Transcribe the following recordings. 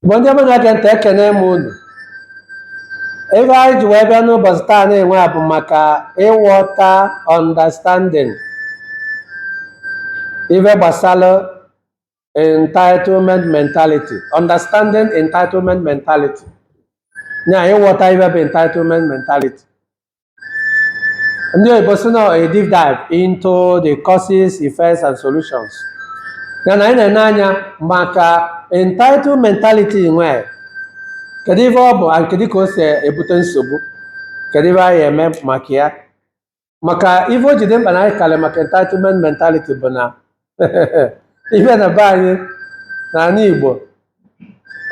Igbo ndị ọma na-ege ntị ekene m unu ife anyị ji wee bịa n'ụbọchị taa nwe bụ maka ịghọta understanding ife gbasara entitlement mentality understanding entitlement mentality ya ịghọta ife bụ entitlement mentality ndị oyibo sị na a deep dive into the causes effects and solutions ya na anyị na-ene anya maka entitled mentality nwe kedu ife ọ bụ and kedu ka o si ebute nsogbu kedu ife anyị eme maka ya maka ife o ji dị mkpa na anyị kalị maka entitlement mentality bụ na ife na be anyị na ala Igbo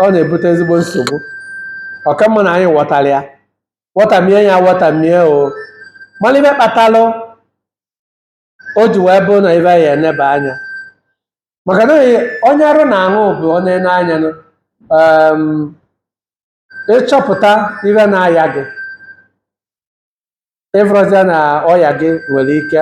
ọ na-ebute ezigbo nsogbu ọ ka mma na anyị ghọtalị ya wọtamie ya wọtamie o malị ife kpatalụ o ji wee bụ na ife a ya-eneba anya maka na onye arụ na-anwụ bụ onye na-aya nụ. Em, ị chọpụta ife na-aya gị ị fụrọzịa na ọya gị nwere ike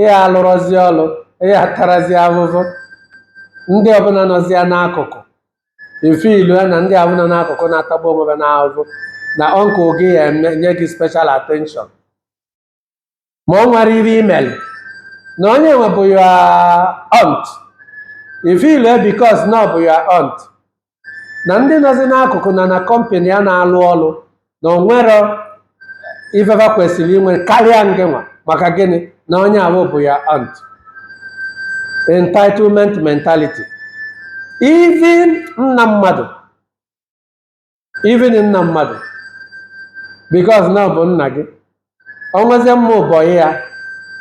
ihe alụrọzi ọlụ ihe atarazi ahụhụ ndị ọbụla nọzịa n'akụkụ ị feelụ ya na ndị ọbụla n'akụkụ na-atagbu onwe ha n'ahụhụ na uncle gị ya-enye gị special attention ma o nwerọ ife i mere na onye nwe bụ your aunt ị feelụ ya because na ọ bụ your aunt na ndị nọzi n'akụkụ na na company ya na-alụ ọlụ na o nwerọ ife fa kwesịrị inwe karịa ngịnwa maka gịnị na onye ahụ bụ your aunt entitlement mentality even nna mmadụ even nna mmadụ because na ọ bụ nna gị o nwezie ụmụ bọyị ya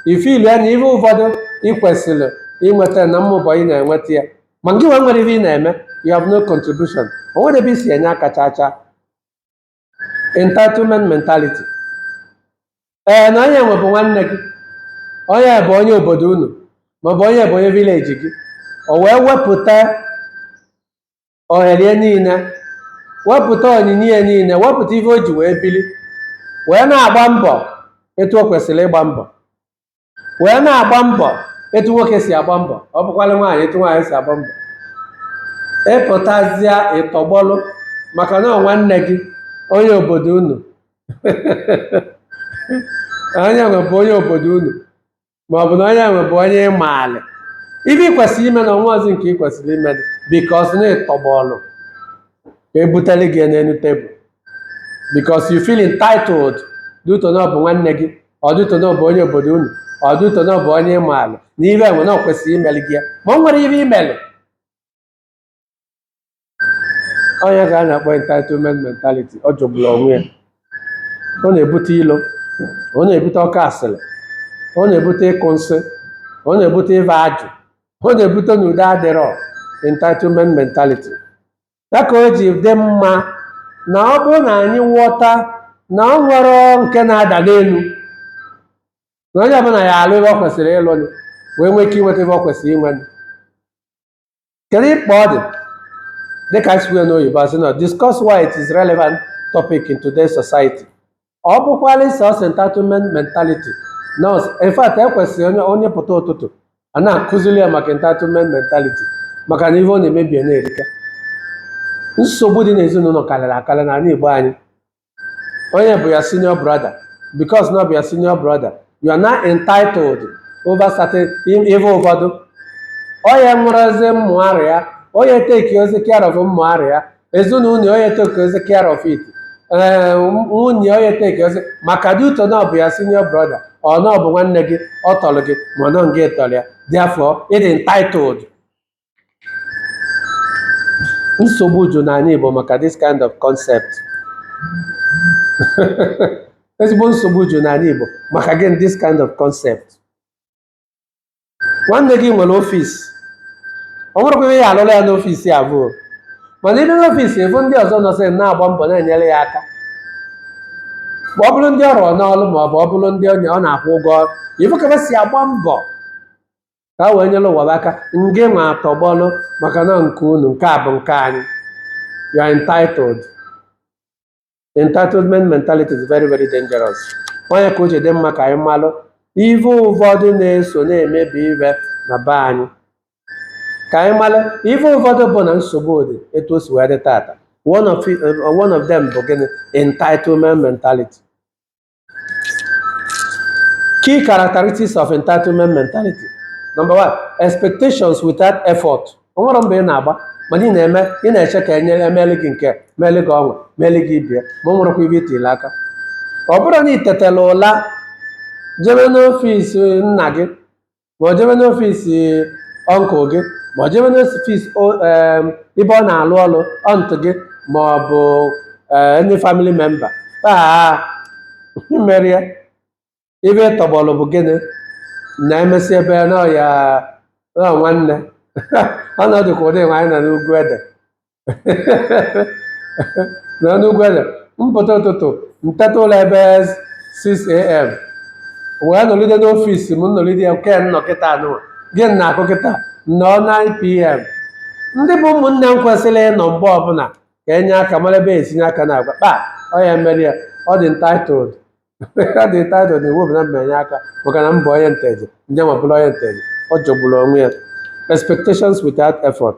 ị feelụ ya na ihe ụfọdụ ị kwesịrị inweta na ụmụ bọyị na-enweta ya ma gị nwa enwerọ ihe ị na-eme you have no contribution o nwerọ ebe i si enye aka chaa chaa entitlement mentality ee na onye nwe bụ nwanne gị onye bụ onye obodo unu maọbụ onye bụ onye village gị o wee wepụta ohere ya niile wepụta onyinye ya niile wepụta ihe o ji wee bili wee na-agba mbọ etu o kwesịrị ịgba mbọ wee na-agba mbọ etu nwoke si agba mbọ ọ bụkwala nwaanyị etu nwaanyị si agba mbọ ị pụtazịa ị tọgbọlụ maka na ọ nwanne gị onye obodo unu onye nwe bụ onye obodo unu ma ọ bụ na onye nwe bụ onye ị maara ife ị kwesịrị ime na o nwerọzi nke ị kwesịrị imenụ because na ị tọgbọlụ ka e butere gị ya n'elu table because you feel entitled due to na ọ bụ nwanne gị ọ due to na ọ bụ onye obodo unu ọ due to na ọ bụ onye ị maara na ife nwe na ọ kwesịrị imere gị ya ma o nwerọ ife i mere ọ nya ka a na-akpọ entitlement mentality ọ jọgburu onwe ya ọ na-ebute ilo ọ na-ebute oke asịrị ọ na-ebute ịkụ nsị ọ na-ebute ịva ajụ ọ na-ebute na udo adịrọ entitlement mentality ya ka o ji dị mma na ọ bụrụ na anyị ghọta na o nwerọ nke na-ada n'elu na onye ọbụla ya alụ ive o kwesịrị ịlụ wee nwee ike inweta ive o kwesịrị inwe kedu mkpa ọ dị dịka anyị si kwuo ya n'oyibo a sị na discuss why it is relevant topic in today's society ọ bụkwala self entitlement mentality na in fact e kwesịrị onye onye pụta ụtụtụ a na-akụziri ya maka entitlement mentality maka na ive ọ na-emebi na-erika nsogbu dị n'ezinụlọ karịrị akarị n'anị Igbo anyị onye bụ your senior brother because na ọ bụ your senior brother you are now entitled over certain im- ife ụfọdụ onye mụrụzi mmụarụ ya onye take ozi care of mmụarụ ya ezinụlọ onye take ozi care of it ee nwunye onye take ozi maka due to na ọ bụ your senior brother or na ọ bụ nwanne gị ọ tọrọ gị ma ọ na ọ ngị tọrọ ya therefore ị dị entitled nsogbu ju n'anị Igbo maka this kind of concept ezigbo nsogbu ju n'anị Igbo maka again this kind of concept nwanne gị nwere ọfịs o nwerekwa ike ị ya-alụrụ ya n'ọfịs avụ mana ị bịa n'ọfịs ị fụ ndị ọzọ nọsị na-agba mbọ na-enyere ya aka ma ọ bụrụ ndị ọ rụrụ n'ọrụ ma ọ bụ ọ bụrụ ndị onye ọ na-akwụ ụgwọ ọrụ ị fụ ka ha si agba mbọ ka a wee nyere ụwa bụ aka ngị nwa atọgbọlụ maka na nke unu nke a bụ nke anyị you are entitled entitlement mentality is very very dangerous ọ nya ka o ji dị mma ka anyị malụ ife ụfọdụ na-eso na-emebi ive na be anyị ka anyị malụ ife ụfọdụ bụ na nsogbu dị etu o si wee dị tata one of, it- uh, one of them bụ gịnị entitlement mentality Key characteristics of entitlement mentality. Number one, expectations without effort. O nwerọ mbọ ị na-agba mana ị na-eme ị na-eche ka a na-emeli gị nke meli gị ọnwa meli gị ibie ma o nwerọkwa ive i tile aka ọ bụrụ na ị tetela ụla jebe n'ọfịs nna gị ma ọ jebe n'ọfịs uncle gị ma ọ jebe n'ọfịs ebe ọ na-alụ ọlụ aunty gị ma ọ bụ ndị family member taa mere ya ive ị tọgbọrọ bụ gịnị na-emesi ebe n'ọya nwanne ọ nọ dịka ụdị nwaanyị na-egwu ede na n'ugwu eze mpụta ụtụtụ nteta ụla ebe 6am wee nọlide n'ọfịs m nọlide ya nke m nọ kịta nwa gịnị na-akụ kịta nnọọ 9pm ndị bụ ụmụnne m kwesịrị ịnọ mgbe ọbụla ka enye aka mara ebe esinye aka na agwa kpa ọ ya mere ya ọ dị entitled ọ dị entitled na iwu bụ na m ma enye aka maka na m bụ onye nteje nje ma bụrụ onye nteje ọ jọgburu onwe ya expectations without effort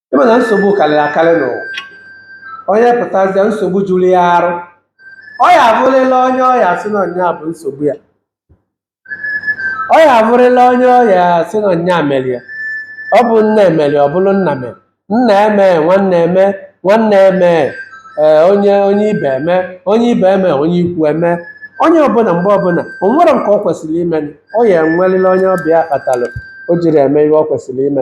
ịma na nsogbu karịrị akarị n'ụwa onye pụtazịa nsogbu juru ya arụ ọ ya abụrịla onye ọ ya asị na nya bụ nsogbu ya ọ ya abụrịla onye ọ ya asị na nya mere ya ọ bụ nna emere ọ bụrụ nna mere nna eme nwanne eme nwanne eme ee onye onye ibe eme onye ibe eme onye ikwu eme onye ọbụla mgbe ọbụla o nwere nke ọ kwesịrị ime ọ ya enwerịla onye ọ bụ ya kpatalụ o jiri eme ihe ọ kwesịrị ime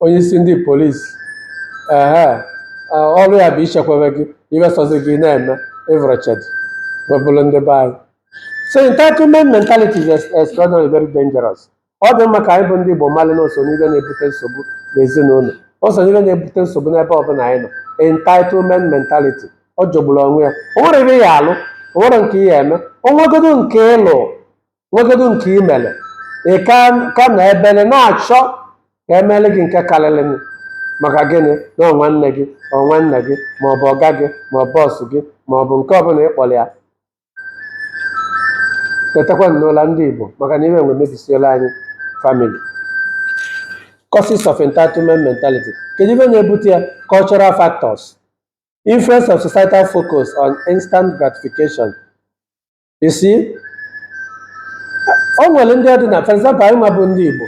onye isi ndị polisi ehe ọrụ ya bụ ichekwebe gị iwesozi gị na-eme ịvụrụchedị webụrụ ndị be anyị so entitlement mentality is ex- extraordinary very dangerous ọ dị mma ka anyị bụ ndị Igbo malị na o so n'ihe na-ebute nsogbu n'ezinụlọ o so n'ihe na-ebute nsogbu n'ebe ọbụla anyị nọ entitlement mentality ọ jọgburu onwe ya o nwere ihe ya alụ o nwere nke ya eme o nwegodo nke ị lụ nwegodu nke i mere ị ka ka na-ebere na-achọ ka emere gị nke karịrị gị maka gịnị na ọ nwanne gị ọ nwanne gị ma ọ bụ ọga gị ma ọ bụ boss gị ma ọ bụ nke ọbụla ị kpọrọ ya tetakwa n'ụla ndị Igbo maka na ife nwa emebisiela anyị family causes of entitlement mentality kedu ife na-ebute ya cultural factors influence of societal focus on instant gratification you see o nwere ndị ọ dị na for example anyị nwa bụ ndị Igbo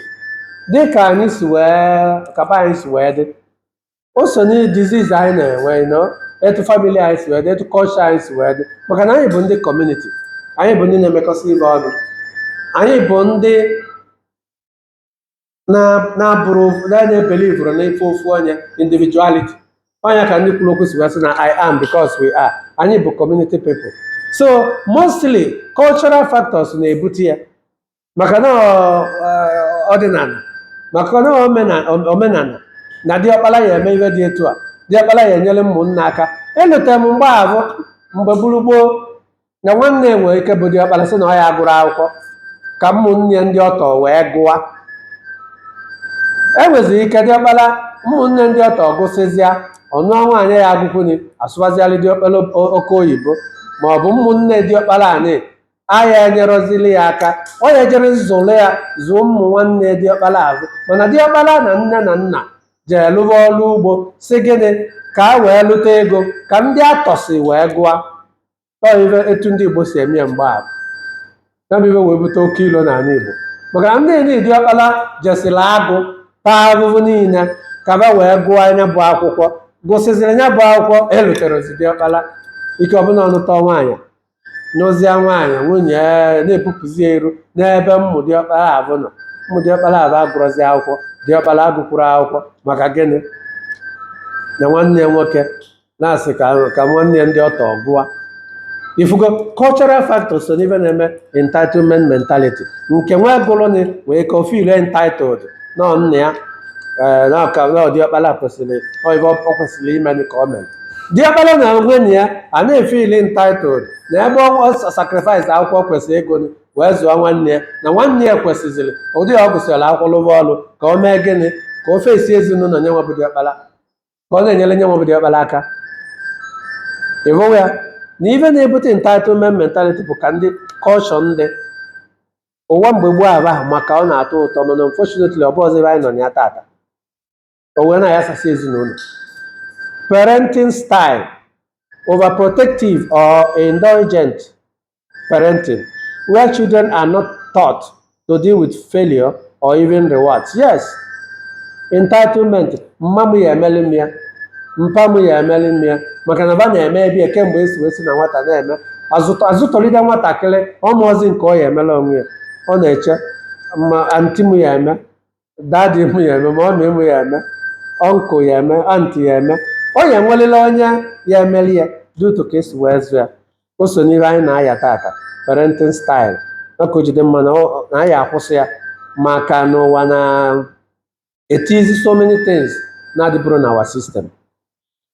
dị ka anyị si wee kaba anyị si wee dị o so na disease anyị na-enwe nọ etu family anyị si wee dị etu culture anyị si wee dị maka na anyị bụ ndị community anyị bụ ndị na-emekọsị ife ọnụ anyị bụ ndị na-abụrọ na-ebelieverọ na ife ofu onye individuality ọ nya ka ndị kwuru okwu si wee sị na i am because we are anyị bụ community people so mostly cultural factors na-ebute ya maka na ọ- ọ- ọdịnala maka na omena- omenala na diọkpara ya eme ihe dị etu a diọkpara ya enyere ụmụnna aka elute m mgbe ahụ mgbe gburugburu na nwanne ya nwere ike bụ diọkpala sị na ọ ya agụrọ akwụkwọ ka ụmụnne ndị ọtọ wee gụwa e nweziri ike diọkpala ụmụnne ndị ọtọ gụsịzịa ọ nụọ nwaanyị ya agụkwuni asụbazialị diọkpala oke oyibo ma ọ bụ ụmụnne diọkpala anị aya enyerọzili ya aka ọ ya ejere zụlụ ya zụọ ụmụ nwanne diọkpala azụ mana diọkpala na nne na nna jee lụwa ọrụ ugbo si gịnị ka a wee lụta ego ka ndị ọtọ si wee gụa Ọ ife etu ndị Igbo si eme ya mgbe ahụ ya bụ ife wee bute oke ilo n'ala Igbo maka na ndị niile diọkpala jesiri agụ taa ahụhụ niile ka ba wee gụọ nya bụ akwụkwọ gụsịziri nya bụ akwụkwọ eluterozi diọkpala ife ọbụla ọ nụta nwaanyị n'ozie nwaanyị nwunye ya na-ebupụzi ya iru n'ebe ụmụ diọkpala abụ nọ ụmụ diọkpala abụ agụrọzi akwụkwọ diọkpala agụkwuro akwụkwọ maka gịnị na nwanne ya nwoke na-asị ka ka nwanne ya ndị ọtọ gụwa ị fụgo cultural factor so n'ife na-eme entitlement mentality nke nwa gụrụnị wee ka o feel entitled na ọ nna ya ee na ọka na ọ diọkpala kwesịrị ọ ife ọ kwesịrị ime ka ọ mere diọkpala na onwe na ya a na-efeel entitled na ebe ọ sacrifice akwụkwọ o kwesịrị ịgụ nị wee zụọ nwanne ya na nwanne ya kwesịzịrị ụdị ọ gụsịrị akwụkwọ lụba ọrụ ka o mee gịnị ka o face ezinụlọ nya nwa bụ diọkpala ka ọ na-enyere nya nwa bụ diọkpala aka ị hụwa ya na ife na-ebute entitlement mentality bụ ka ndị culture ndị ụwa mgbe gboo aba ahụ maka ọ na-atọ ụtọ mana unfortunately ọ bụzọ ebe anyị nọ na ya tata o wee na-ayasasị ezinụlọ parenting style overprotective or indulgent parenting where children are not taught to deal with failure or even rewards yes entitlement mma m ya emeli m ya mpa m ya emeli m ya maka na ba na-emebe ya kemgbe e si wee si na nwata na-eme a zụtọ a zụtọlide nwatakịrị ọ marọzi nke ọ ya emela onwe ya ọ na-eche ma aunty m ya eme daddy mụ ya eme mummy mụ ya eme uncle ya eme aunty ya eme ọ ya enwelila onye ya emeli ya due to ka e si wee zụ ya o so n'ihe anyị na-aya tata parenting style maka ọ je-adị mma na ọ- na anyị akwụsị ya maka na ụwa na-etizi so many things na-adịbụrụ na our system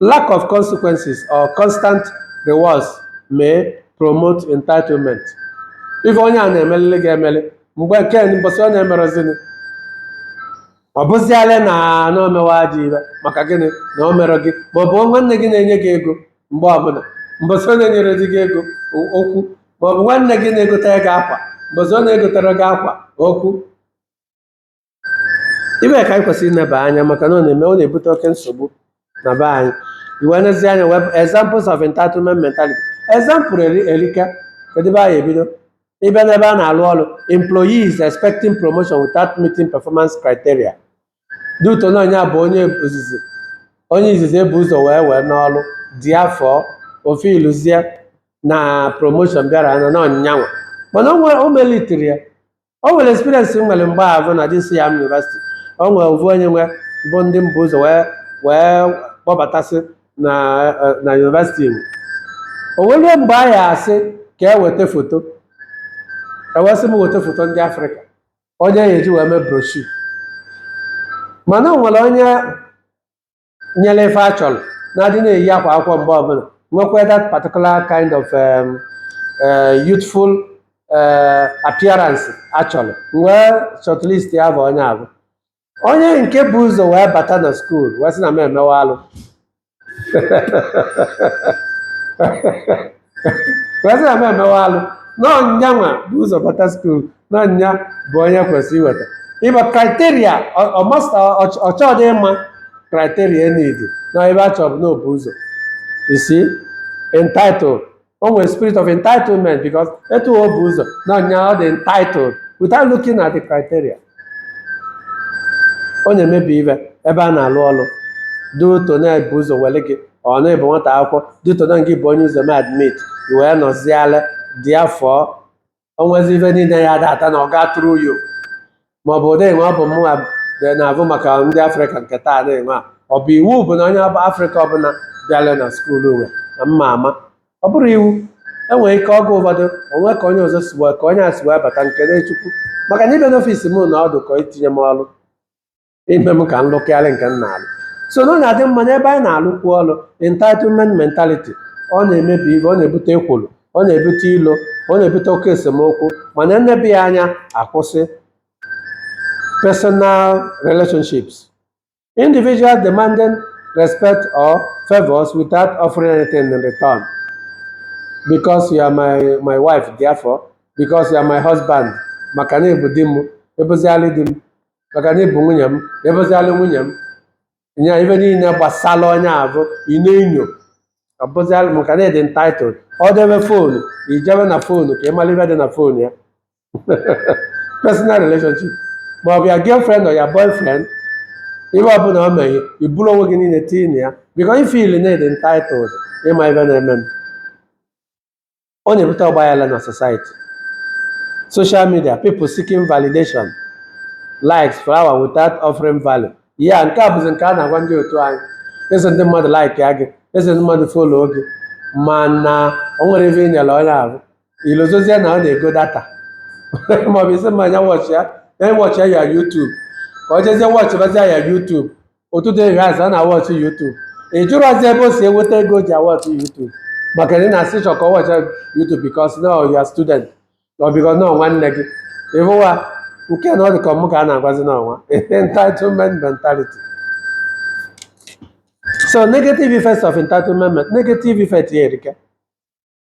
lack of consequences or constant rewards may promote entitlement ife onye a na-emelili ga-emeli mgbe nke mbọsị ọ na-emerozini ọ bụziala na na o mewa ajọ ife maka gịnị na o mere gị ma ọ bụ nwanne gị na-enye gị ego mgbe ọbụla mbọsị ọ na-enyerodi gị ego o- okwu ma ọ bụ nwanne gị na-egotere gị akwa mbọsị ọ na-egotero gị akwa okwu ive ka anyị kwesịrị ineba anya maka na ọ na-eme ọ na-ebute oke nsogbu na be anyị i wee nezie anya we have examples of entitlement mentality example eri- erika kedu ebe anyị ebido ị bịa n'ebe a na-alụ ọrụ employees expecting promotion without meeting performance criteria due to na onye a bụ onye ozizi onye izizi e bu ụzọ wee wee n'ọrụ therefore ofe iluzie na promotion bịara na na ọ nya nwa mana o nwere- o meritiri ya o nwere experience m nwere mgbe avụ na jisi ya university o nwere ovu onye nwe bụ ndị m bu ụzọ wee wee kpọbatasị na eh, na university ebe o nwere mgbe a ya-asị ka e weta foto e wee sị m weta foto ndị afrịka onye a ya-eji wee mee brochure mana o nwere onye nwere ife a chọrọ na-adị na-eyi akwa akwụkwọ mgbe ọbụla nwekwa that particular kind of um, uh, youthful uh, appearance a chọrọ wee shortlist ya bụ onye avụ onye nke bu ụzọ wee bata na skuul wee sị na m emewa alụ wee sị na m emewe alụ na ọ nya nwa bu ụzọ bata skuul na ọ nya bụ onye kwesịrị iweta ive a criteria ọ ma- ọ chọdị ịma criteria e needi na ive a chọ bụ na o bu ụzọ he's entitled o nwere spirit of entitlement because etu o bu ụzọ na ọ nya ọ dị entitled without looking at the criteria ọ na-emebi ive ebe a na-alụ ọrụ due to na e bu ụzọ were gị ọ na ị bụ nwata akwụkwọ due to na gị bụ onye ụzọ m admit i wee nọziala therefore o nwezi ive niile ya-adata na ọ ga through you ma ọ bụ ụdị enwe ọ bụ mụnwa dị na-avụ maka ndị afrịka nke taa na-enwe a ọ bụ iwu bụ na onye afrịka ọbụla bịara na skuulu nwe na m ma ama ọ bụrụ iwu e nwere ike oge ụfọdụ o nwee ka onye ọzọ si wee ka onye a si wee bata m kelee Chukwu maka na ịbịa n'ọfisi m na ọ dị ka itinye m ọrụ ime m ka m lụkarịa nke m na-alụ so na ọ na-adị mma n'ebe anyị na-alụkwu ọrụ entitlement mentality ọ na-emebi ive ọ na-ebute ekworo ọ na-ebute ilo ọ na-ebute oke esemokwu mana e nebe ya anya akwụsị personal relationships Individuals demanding respect or favors without offering anything in return. Because you are my, my wife, therefore, because you are my husband, maka na ị bụ di m, ị bụzialị di m, maka na ị bụ nwunye m, ị bụzialị nwunye m. Nya ive niile gbasara onye avụ, ị na-enyo. Ọ bụzialị maka na ị dị entitled. Ọ debe foonu, i jebe na foonu ka ị mara ive dị na foonu ya. personal relationship ma ọ bụ your girlfriend or your boyfriend ihe ọbụla o meghe i buru onwe gị niile tinye na ya because ị feel na ị dị entitled ịma ife na-eme ọ na-ebute ọgbaghara na society social media people seeking validation likes followers without offering value ya nke a bụzi nke a na-agwa ndị otu anyị ị sị ndị mmadụ likeịa gị ị sị ndị mmadụ follow gị mana o nwere ife ị nyere onye ahụ ilozozie na ọ na-ego data maọbụ isi mma anya watch ya na ị watch your YouTube ka ọ jezie watchịbazia your YouTube ụtụtụ ehihie azụ ọ na-awatch YouTube ị jụrọzi ebe o si enweta ego o ji awatch YouTube maka na ị just chọ ka ọ watch YouTube because na ọ your student or because na ọ nwanne gị ịhụwa nke na ọ dị ka ọ mụ ka a na-agwazi n'ọnwa entitlement mentality so negative effects of entitlement negative effect ya erika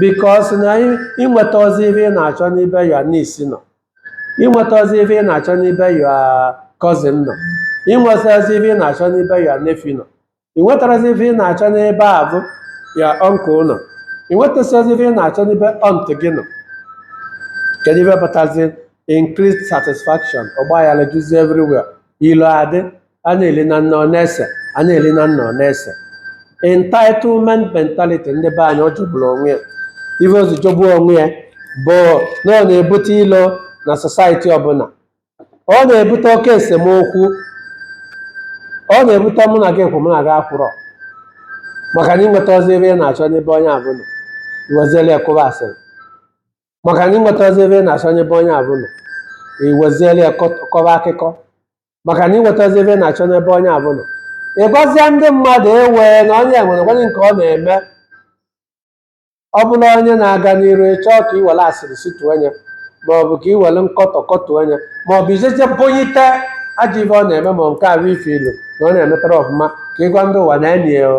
because na ịnwetarọzi ife ị na-achọ n'ebe your niece nọ ịnwetarọzi ife ị na-achọ n'ebe your cousin nọ ịnwetarọzi ife ị na-achọ n'ebe your nephew nọ ịnwetarọzi ife ị na-achọ n'ebe ahụ your uncle nọ ịnwetarọzi ife ị na-achọ n'ebe aunt gị nọ kedu ife pụtazi increased dissatisfaction ọgbaghara juzi everywhere ilo adị a na-eli na nna ọ na-ese a na-eli na nna ọ na-ese entitlement mentality ndị be anyị ọ jọgburu onwe ya ife o ji jọgbuo onwe ya bụ na ọ na-ebute ilo na society ọbụla ọ na-ebute oke esemokwu ọ na-ebute mụ na gị kwụ mụ na gị akwụrọ maka na ịnwetarọzi ife ị na-achọ n'ebe onye ahụ nọ iweziela ya kụba asịrị maka na ịnwetarọzi ife ị na-achọ n'ebe onye ahụ nọ iweziela ya kọt- kọba akụkọ maka na ịnwetarọzi ife ị na-achọ n'ebe onye ahụ nọ ị gwazịa ndị mmadụ ewe na onye enwerọkwanụ nke ọ na-eme ọ bụrụ onye na-aga n'iru ị chọọ ka iwere asịrị situo onye ma ọ bụ ka iwere nkọtọ kọtuo onye ma ọ bụ i jeje bunyite ajọ ife ọ na-eme ma nke ahụ ị feel na ọ na-emetarọ ọfụma ka ịgwa ndị ụwa neenụ ya o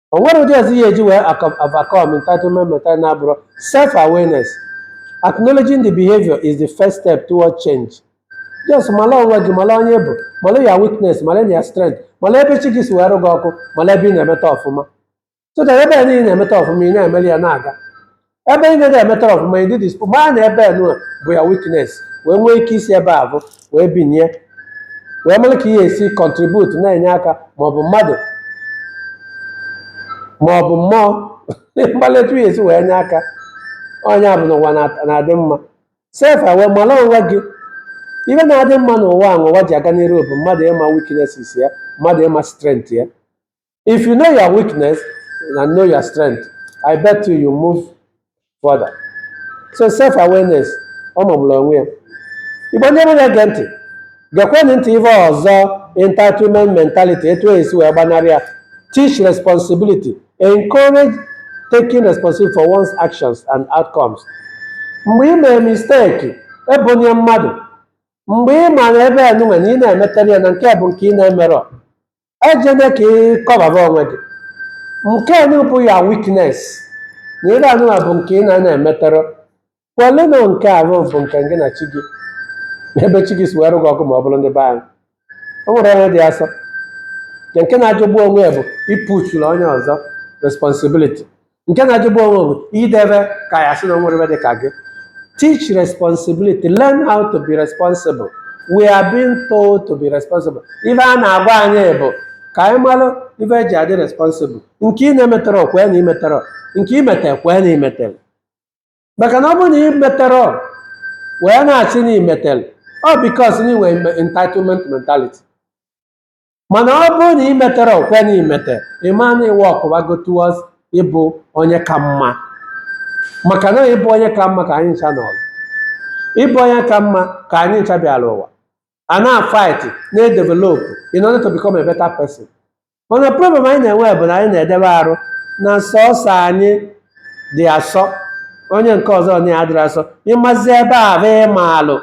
o nwere ụdị ụzọ ị ya-eji wee acom- overcome entitlement mentality na-abụrụ self awareness acknowledging the behavior is the first step toward change just mala onwe gị mala onye ị bụ mala your weakness mala your strength mala ebe chi gị si wee rụ gị ọkụ mala ebe ị na-emeta ọfụma so that ebe niile ị na-emeta ọfụma ị na-emeli ya na-aga ebe ị na-adị emetarọ ọfụma ịdị dispo mara na ebe enu bụ your weakness wee nwee ike isi ebe ahụ wee binie wee mara ka ị ya-esi contribute na-enye aka maọbụ mmadụ maọbụ mmụọ mgbalị etu ị ya-esi wee nye aka onye ahụ n'ụwa na- na-adị mma self aware mara onwe gị ihe na-adị mma n'ụwa a n'ụwa ji aga n'iru bụ mmadụ ịma weaknesses ya mmadụ ịma strength ya If you know your weakness and know your strength, I bet you you move further. So self awareness ọ magburu onwe ya. Igbo ndị mụ na-ege ntị, gekwenụ ntị ife ọzọ entitlement mentality etu e si wee gbanarị ya. Teach responsibility, encourage taking responsibility for one's actions and outcomes. Mgbe ị mere mistake, ebunye mmadụ. Mgbe ị ma na ife anụwa na ị na-emeterọ ya na nke bụ nke ị na-emerọ, ejene ka ị kọbaba onwe gị nke a bụ ya weakness na ife anụwa bụ nke ị na-ana emeterọ kwelu na nke ahụ bụ nke gị na chi gị na ebe chi gị si were gị ọgụ ma ọ bụrụ ndị be anyị o nwerọ onye dị asọ nke nke na-ajọgbu onwe ya bụ ịpushuru onye ọzọ responsibility nke na-ajọgbu onwe bụ idebe ka ya sị na o nwerọ dị ka gị teach responsibility learn how to be responsible we are being told to be responsible ife a na-agwa anyị bụ ka anyị malụ ife eji adị responsible nke ị na-emeterọ kwe na i meterọ nke i metere kwe na i metere maka na ọ bụrụ na i meterọ wee na-asị na i metere ọ because na i nwe entitlement mentality mana ọ bụrụ na i meterọ kwe na i meterọ ị ma na ị workụwago towards ịbụ onye ka mma maka na ịbụ onye ka mma ka anyị ncha nọọrọ ịbụ onye ka mma ka anyị ncha bịara ụwa a na-afight na-edevelopụ in order to become a better person mana problem anyị na-enwe bụ na anyị na-edebe arụ na sọsọ anyị dị asọ onye nke ọzọ na adịrọ asọ ị mazi ebe ahụ ị maalụ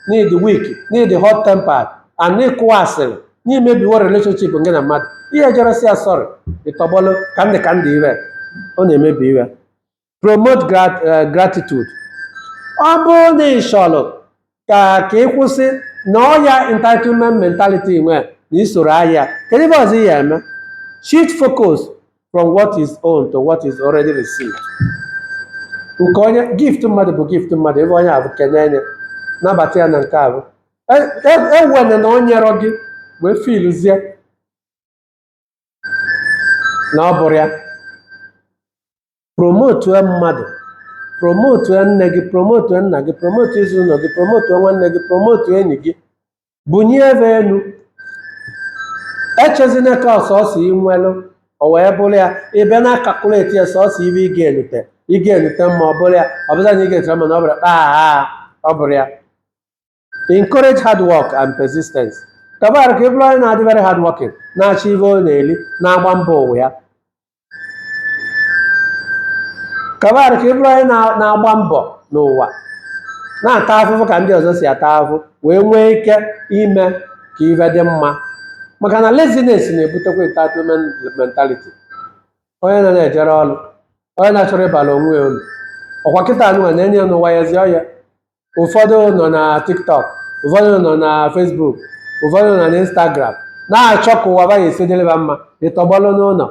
n'ịdị weak n'ịdị hot tempered and n'ịkụwa asịrị n'imebiwo relationship nke gị na mmadụ i jerọ sị ya sorry ị tọgbọlụ ka ndị ka ndị ihe ọ na-emebi ihe promote grat- eh, gratitude ọ bụrụ na ị chọrọ ka ka ị kwụsị na ọya entitlement mentality nwe na isoro ahịa kedu ife ọzọ ị ya-eme shift focus from what is owned to what is already received nke onye gift mmadụ bụ gift mmadụ ife onye ahụ kenye enye nabata ya na nke ahụ ewena na o nyerọ gị wee feelzie na ọ bụrọ ya promotue mmadụ promotue nne gị promotue nna gị promotue ezinụlọ gị promotue nwanne gị promotue enyi gị bunye ebe enu echezina ka ọ sọsọ ị nwelụ o wee bụrụ ya ị bịa na-acalculate ya sọsọ ife ị ga-enute ị ga-enute mba ọ bụrọ ya ọ bụza na ị ga-etere mana ọ bụrọ kpaa ọ bụrọ ya encourage hard work and persistence kabar ka ị bụrụ onye na-adị very hard working na-achọ ive ọ na-eli na-agba mbọ ụwa ya kabar ka ị bụrụ onye na- na-agba mbọ n'ụwa na-ata afụfụ ka ndị ọzọ si ata afụfụ wee nwee ike ime ka ive dị mma maka na laziness na-ebutekwa entitlement mentality onye na-ejerọ ọrụ onye na-achọrọ ịbara onwe ya ulu ọkwa kịta a nụnwa na-enye ya n'ụwa ya ezi ọya ụfọdụ nọ na tiktok ụfọdụ nọ na facebook ụfọdụ nọ na instagram na-achọ ka ụwa va ya-esi dịrị va mma ị tọgbọlụ n'ụnọ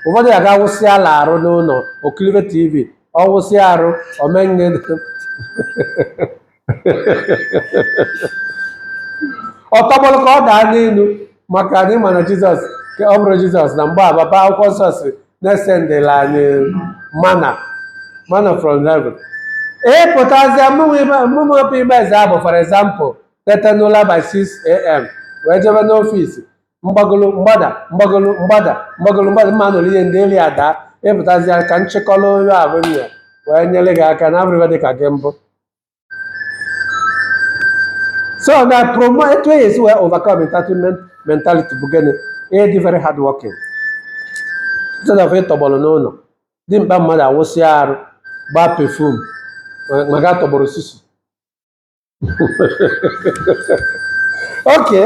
ụfọdụ ya ga-awụsịala arụ n'ụnọ o kilibe tv ọ wụsịa arụ o menye ọ tọgbọlụ ka ọ daa n'enu maka na ị ma na jizọs ka ọ bụrụ jizọs na mgbe a baba akwụkwọ nsọ si na-esendịla anyị manna manna from heaven ị pụtazịa mụmụ ọpụ ime eze abụ for example teta n'ụla by 6 am wee jebe n'ọfịs mgbagolo mgbada mgbagolo mgbada mgbagolo mgbada mma nụrụ ihe ndị elu ya daa ị pụtazịa ka m chịkọrọ onye abụ nne wee nyere gị aka na abụrịba dị ka gị mbụ so na promo etu a ya-esi wee overcome entitlement mentality bụ gịnị ịdị very hard working instead of ịtọgbọrọ n'ụnọ dimkpa mmadụ awụsị arụ gbaa perfume ma ga tọgbọrọ susu okay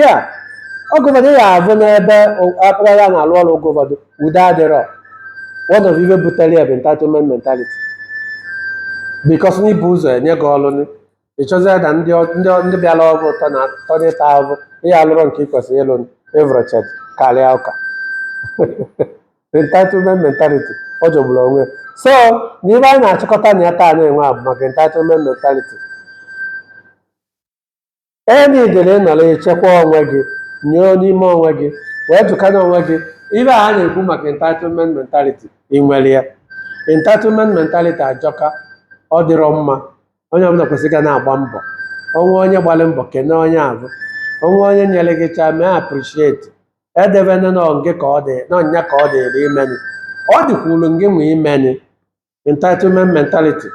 yeah oge ụfọdụ ya abụ n'ebe akpụrụya na-alụ ọrụ oge ụfọdụ udo adịrọ one of ife butere ya bụ entitlement mentality because na e bu ụzọ nye gị ọrụ ị chọzie na ndị ndị bịara ọgụ ụtọ na atọ n'ịta ahụhụ ihe alụrụ nke ị kwesịrị ịlụ evrochet karịa ụka entitlement mentality ọ jọgburu onwe ya so na ive anyị na-achịkọta na ya taa nunwa bụ maka entitlement mentality ị nidịrị ịnọrọ echekwa onwe gị nyoo n'ime onwe gị wee jụkwana onwe gị ive a na-ekwu maka entitlement mentality ị nwere ya entitlement mentality ajọka ọ dịrọ mma onye ọbụna kwesịrị ka ọ na-agba mbọ o nwee onye gbalị mbọ kene onye avụ o nwee onye nyere gị chaa mee appreciate edebena na nge ka ọ dị na ọ nya ka ọ dịrị imeni ọ dịkwuru ngị nwa imeni entitlement mentality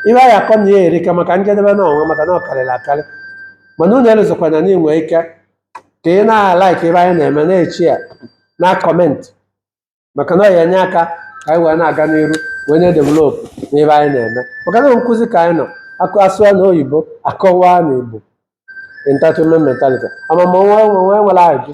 ihe anyị akọ na ya erika maka njedebe na ọnwa maka na ọ karịrị akarị mana unu elezokwana na i nwee ike ka ị na-alaik ive anyị na-eme na-eshea na-akọmentị maka na ọ ya-enye aka ka anyị wee na-aga n'iru wee na-edevelopụ n'ive anyị na-eme maka na nkụzi ka anyị nọ akụ a sụọ na oyibo a kọwaa na igbo entitlement mentality amamọnwa enwe nwere ajụ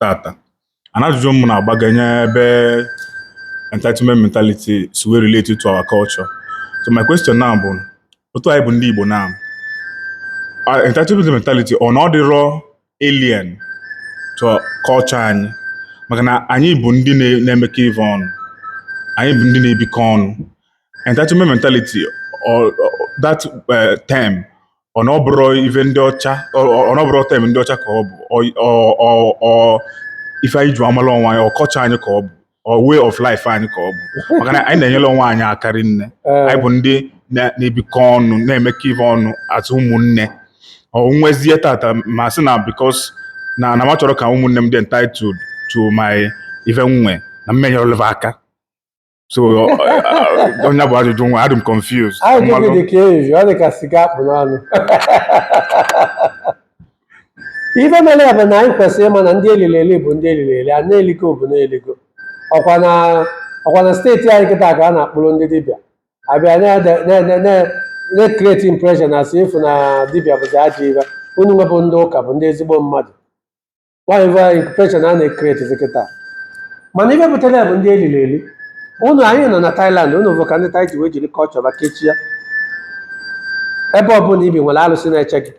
tata and ajụjụ m na-agbaganye ebe entitlement mentality si wee relate to our culture so my question now bụ otu anyị bụ ndị Igbo now our entitlement mentality ọ na ọ dịrọ alien to culture anyị maka na anyị bụ ndị na- na-emekọ ive ọnụ anyị bụ ndị na-ebikọ ọnụ entitlement mentality or, or that uh, term ọ na ọ bụrọ ife ndị ọcha ọ ọ- ọ na ọ bụrọ term ndị ọcha ka ọ bụ ọ ọ- ọ- ọ ife anyị ji amala onwe anyị ọ culture anyị ka ọ bụ ọ way of life anyị ka ọ bụ maka na anyị na-enyere onwe anyị aka rinne Ee. anyị bụ ndị na- na-ebikọ ọnụ na-emekọ ife ọnụ as ụmụnne o nwezie tata m asị na because na na m achọrọ ka ụmụnne m dị entitled to my ife nwe na m ma enyere va aka so ọ nya bụ ajụjụ nwa adị m confused ajụjụ gị dị ka eji ọ dị ka sugar a kpụ n'ọnụ ife mere ya bụ na anyị kwesịrị ịma na ndị elili eli bụ ndị elili eli a na-eligo bụ na-eligo ọkwa na ọkwa na steeti anyị kịta ka a na-akpụrụ ndị dibịa a bịa na-create impression a sị ị fụ na dibịa bụzi ajọ ibe unu nwa bụ ndị ụka bụ ndị ezigbo mmadụ whatever impression a na-create kịta mana ibe butere ya bụ ndị elili eli ụnụ anyị nọ na Thailand ụnụ vụ ka ndị Thai ji wee jiri culture va kechie ebe ọbụla i bi nwere alụsị na-eche gị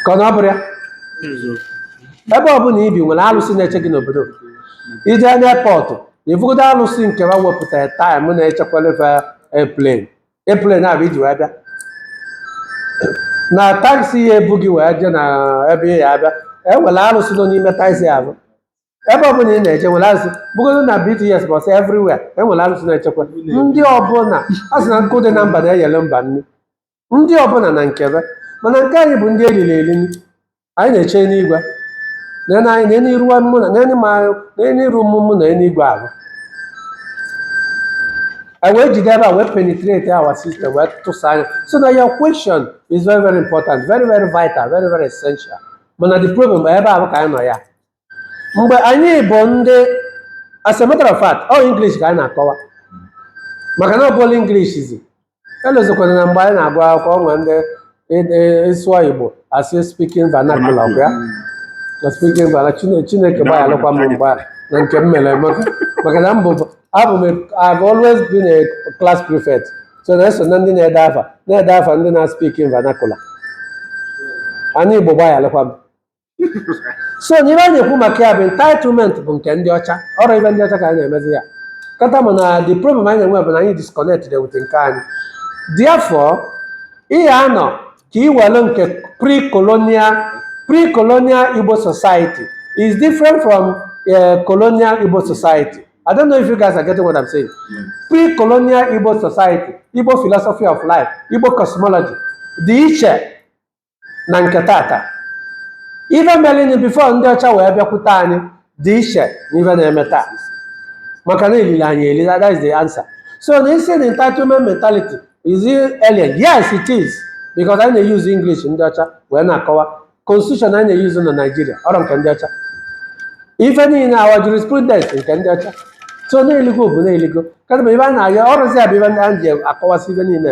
ka ọ na ọ bụrọ ya ebe ọbụla i bi nwere alụsị na-eche gị n'obodo i jee n'airport ị vụgodo alụsị nke ha wepụtara time na-echekwara airplane airplane avụ i ji wee bịa na taxi ya ebu gị wee jee na ebe ị ya abịa e nwere arụsị nọ n'ime taxi ahụ ebe ọbụla ị na-eje nwere arụsị vụgodo na BTS bus everywhere enwere arụsị na-echekwa ndị ọbụla a sị na nkụ dị na mba na-eyere mba nri ndị ọbụla na nke va mana nke anyị bụ ndị elili eli anyị na-eche n'igwe nene anyị nene iru mụ na nene ma nene iru mụ mụ na eluigwe ahụ I wee jide ebe a wee penetrate our system wee tụsaa anyị so na your question is very very important very very vital very very essential mana the problem bụ ebe ahụ ka anyị nọ ya mgbe anyị bụ ndị as a matter of fact all English ka anyị na-akọwa maka na ọ bụla English zi elozokwana na mgbe anyị na-agụ akwụkwọ o nwere ndị ị- ị- ị sụọ Igbo a sị speaking vernacular ọkwa ya na speaking vernacular Chine- chineke gbaghalụkwa m mgbe a na nke m mere emeka maka na mbụ abụ m a- I've always been a class prefect so na eso na ndị na-ede afa na-ede afa ndị na speaking vernacular anị Igbo gbaghalụkwa m so na ibe anyị ekwu maka ya bụ entitlement bụ nke ndị ọcha ọ bụ ibe ndị ọcha ka anyị na-emezi ya kịta mana the problem anyị na-enwe bụ na anyị disconnected with nke anyị therefore ihe anọ ka i were nke pre-colonial pre-colonial Igbo society is different from uh, colonial Igbo society I don't know if you guys are getting what I'm saying pre-colonial Igbo society Igbo philosophy of life Igbo cosmology dị iche na nke tata ife mere anyị before ndị ọcha wee bịakwute anyị dị iche na ife na-eme taa maka na elili anyị elili that is the answer so na ị sị na entitlement mentality is it alien yes it is because anyị na-use English ndị ọcha wee na-akọwa constitution anyị na-use na Nigeria ọ bụ nke ndị ọcha ife niile our jurisprudence nke ndị ọcha so na-eligo bụ na-eligo kedụ ma ibe a na-arịọ ọ bụzi ya bụ ibe ndị anyị ji akọwasị ibe niile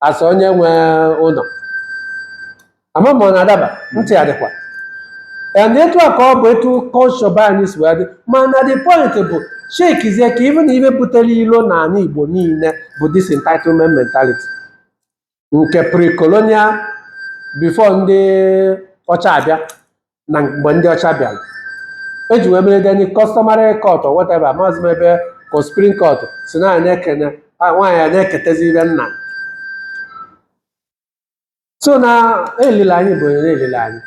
as onye nwe ụlọ ama m ọ na-adaba ntị ya dịkwa and etu a ka ọ bụ etu culture be anyị si wee dị mana the point bụ checkizie ka even ibe butere ilo na ala igbo niile bụ this entitlement mentality nke pre-colonial before ndị ọcha abịa na mgbe ndị ọcha bịara eji wee mere the customary court or whatever maazị m ebe ka supreme court sị na nwoke na nwaanyị a na-eketezi ibe nna so na elili anyị bụ onye na elili anyị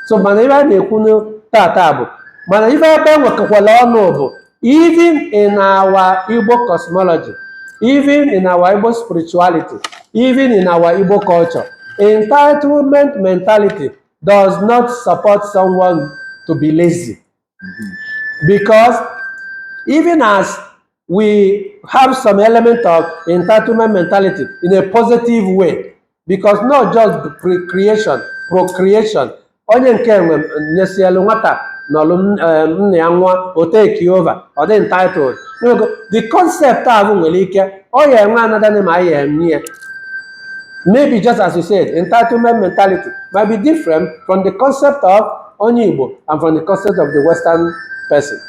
so mana ibe a na-ekwu na tata bụ mana ibe ebe nwekọkwala ọnụ bụ even in our Igbo cosmology even in our Igbo spirituality even in our Igbo culture entitlement mentality does not support someone to be lazy. Because even as we have some element of entitlement mentality in a positive way, because not just pre- creation, procreation, onye nke nwe nyesielu nwata n'ọlụ m- eh, nna ya nwụọ o take over ọ dị entitled Nwego, the concept ahụ nwere ike ọ ya enwe another name anyị ya enye ya Maybe just as you said, entitlement mentality might be different from the concept of onye Igbo and from the concept of the Western person.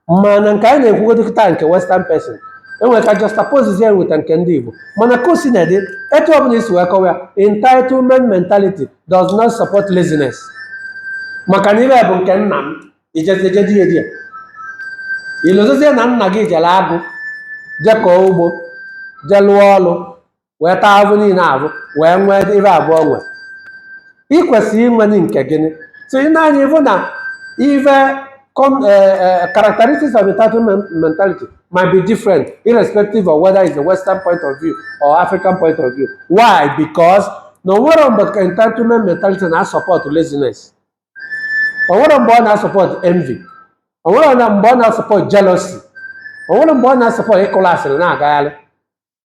Mana nke anyị na-ekwugodo kịta nke Western person enwere ike juxtapose ya with nke ndị Igbo mana ka o sina dị etu ọbụla i si wee kọwa ya entitlement mentality does not support laziness maka na ibe bụ nke nna m i jezie je di ya di ya i lozozie na nna gị jere agụ je kọọ ugbo je lụọ ọrụ wee taa ahụhụ niile ahụ wee nwee ibe ahụ o nwe ị kwesịrị inwe ni nke gị nị so ị nee anya ị hụ na ive com- eh, eh, characteristics of entitled men- mentality might be different irrespective of whether it's a western point of view or african point of view why because na o nwerọ mgbe ka entitlement mentality na support laziness o nwerọ mgbe ọ na-asupport envy o nwerọ mgbe ọ na-asupport jealousy o nwerọ mgbe ọ na-asupport ịkụla asịrị na-agagharị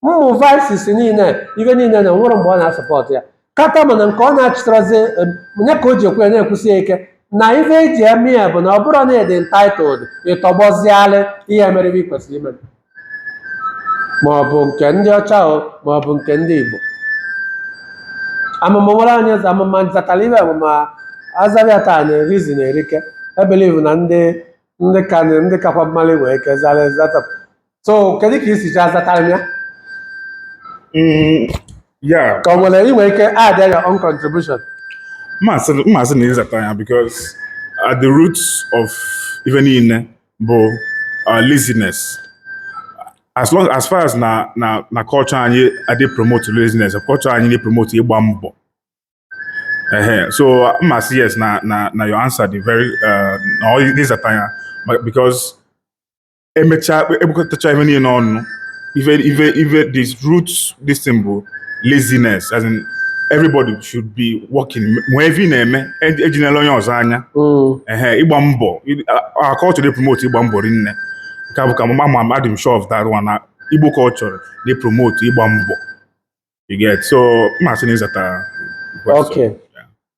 ụmụ vices niile ive niile na o nwerọ mgbe ọ na-asupport ya kata mana nke ọ na-achịtarazi em, ya ka o ji ekwu ya na-ekwusi ya ike na ife eji eme ya bụ na ọ bụrụ na ị dị entitled ịtọgbọzialị ihe mere ive ị kwesịrị ime ma ọ bụ nke ndị ọcha o ma ọ bụ nke ndị Igbo amụma nwere anyị eze ama m ma m zatara ive amụma azabịa taa na-erizi na-erike ebelieve na ndị ndị ka ndị kakwa m malị nwee ike zara ezata so kedu ka ị si ji azatara m ya Mm, yeah, ka ọ nwere i nwe ike add your own contribution m ma-asị m ma-asị na ị zata ya because at the roots of ife niile bụ uh, laziness as long as far as na na na culture anyị adị epromote laziness culture anyị na-epromote ịgba mbọ ehe so m ma-asị yes na na na your answer dị very uh, na ị zata ya ma- because emechaa ebukọtacha ive niile ọnụ ife ife ife the root this thing bụ laziness as in everybody should be working mee ive ị na-eme e- ejinela onye ọzọ anya Mm. ehe ịgba mbọ our culture na-epromote ịgba mbọ rinne nke a bụ ka mama ma adị m sure of that one na Igbo culture na-epromote ịgba mbọ you get so m ma-asị na ị zata question. Okay.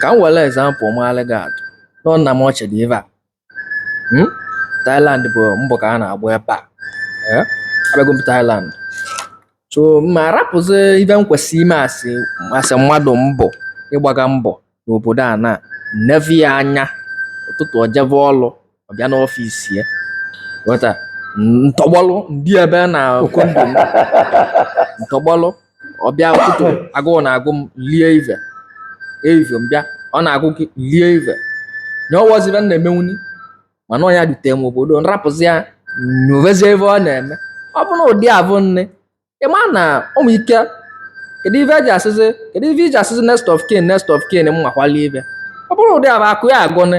ka m were example maalụ gị atụ nọ nna m ochie dị ebe a Hmm? Thailand bụ mbọ ka a na-agba ebe a Eh? abịago m Thailand so ma arapụzi ive m kwesịrị ime asị asị mmadụ mbọ ịgbaga mbọ n'obodo a na nevi ya anya ụtụtụ o jebe ọlụ ọ bịa n'ọfịs ya ghọta m tọgbọlụ ndị ebe a na condo m m tọgbọlụ ọ bịa ụtụtụ agụụ na-agụ m lie ive evive bịa ọ na-agụ gị lie ive nye ọwọzibe m na-emenwuni mana ọ ya dutere m obodo m rapụzi ya nyovezie ive ọ na-eme ọ bụ na ụdị avụ nne ị ma na ụmụ ike kedu ife eji asịzi kedu ife iji asịzi next of kin next of kin m makwali ife ọ bụrụ ụdị avụ akụ ya agụnị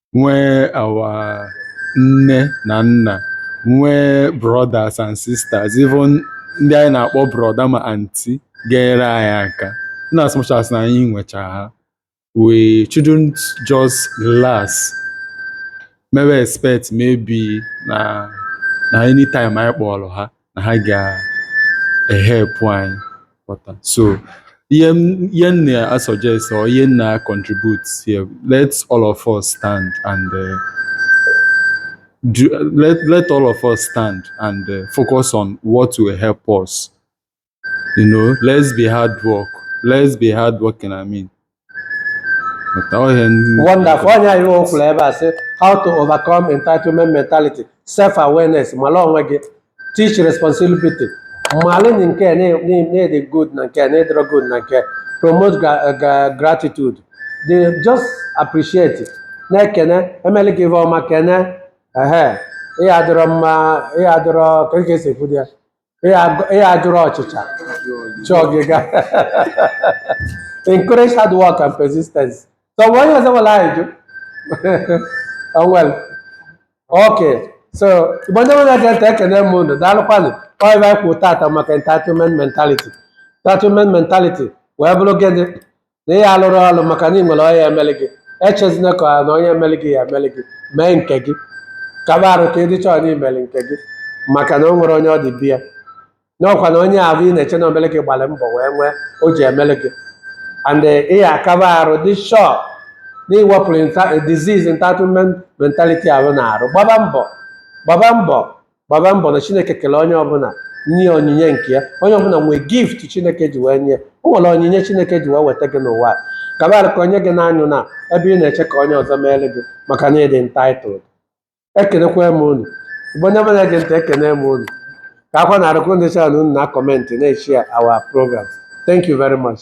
nwee our nne na nna nwee brothers and sisters even ndị anyị na-akpọ brother ma aunty ga-enyere anyị aka in as much as na anyị nwecha ha we shouldn't just relax mewe expect maybe na na anytime anyị kpọrọ ha na ha ga-ehelp anyị ghọta so ihe m- ihe m na-asuggest or ihe m na-econtribute here let all of us stand and uh, do, let, let all of us stand and uh, focus on what will help us you know let's be hard work let's be hard working i mean wonderful onye anyị o kwuru ebe a sị how to overcome entitlement mentality self awareness malụ onwe gị teach responsibility malụ nke na-adị good na nke na-adịrọ good na nke promote gratitude they just appreciate na-ekene e melụ gị ife ọma kene ehe ihe adịrọ mma ihe adịrọ ka e si ekwu ya Ihe adịrọ ọchịcha chọọ gị ga encourage hard work and persistence so mgbe onye ọzọ nwere anyị jụ onwere ok so igbo ndị na-ege ntị ekene m unu daalụkwanụ ọ ife anyị kwuru taata maka entitlement mentality entitlement mentality wee bụrụ gịnị na ị alụrụ ọrụ maka na ị nwere onye ya-emelụ gị echezina ka na onye emelụ gị ya emelụ gị mee nke gị kaba arụ ka ị dị shọ na i melụ nke gị maka na o nwere onye ọ dị be ya n'ọkwa na onye ahụ ị na-eche na o melụ gị gbara mbọ wee nwee o ji emelụ gị and ị ya-akaba arụ dị shọ na i wepụrụ disease entitlement mentality ahụ n'arụ gbaba mbọ gbaba mbọ gbaba mbọ na chineke kele onye ọbụla nye onyinye nke ya onye ọbụla nwere gift chineke ji wee nye ya o nwere onyinye chineke ji wee weta gị n'ụwa a. kaba arụ ka onye gị na-anọ na ebe ị na-eche ka onye ọzọ meere gị maka na ị dị entitled ekenekwa m unu igbo onye ọbụla na-ege ntị ekene m unu kabakwanụ arụ ka unu dị shọ na unu na-akọmentị na-eshare our program thank you very much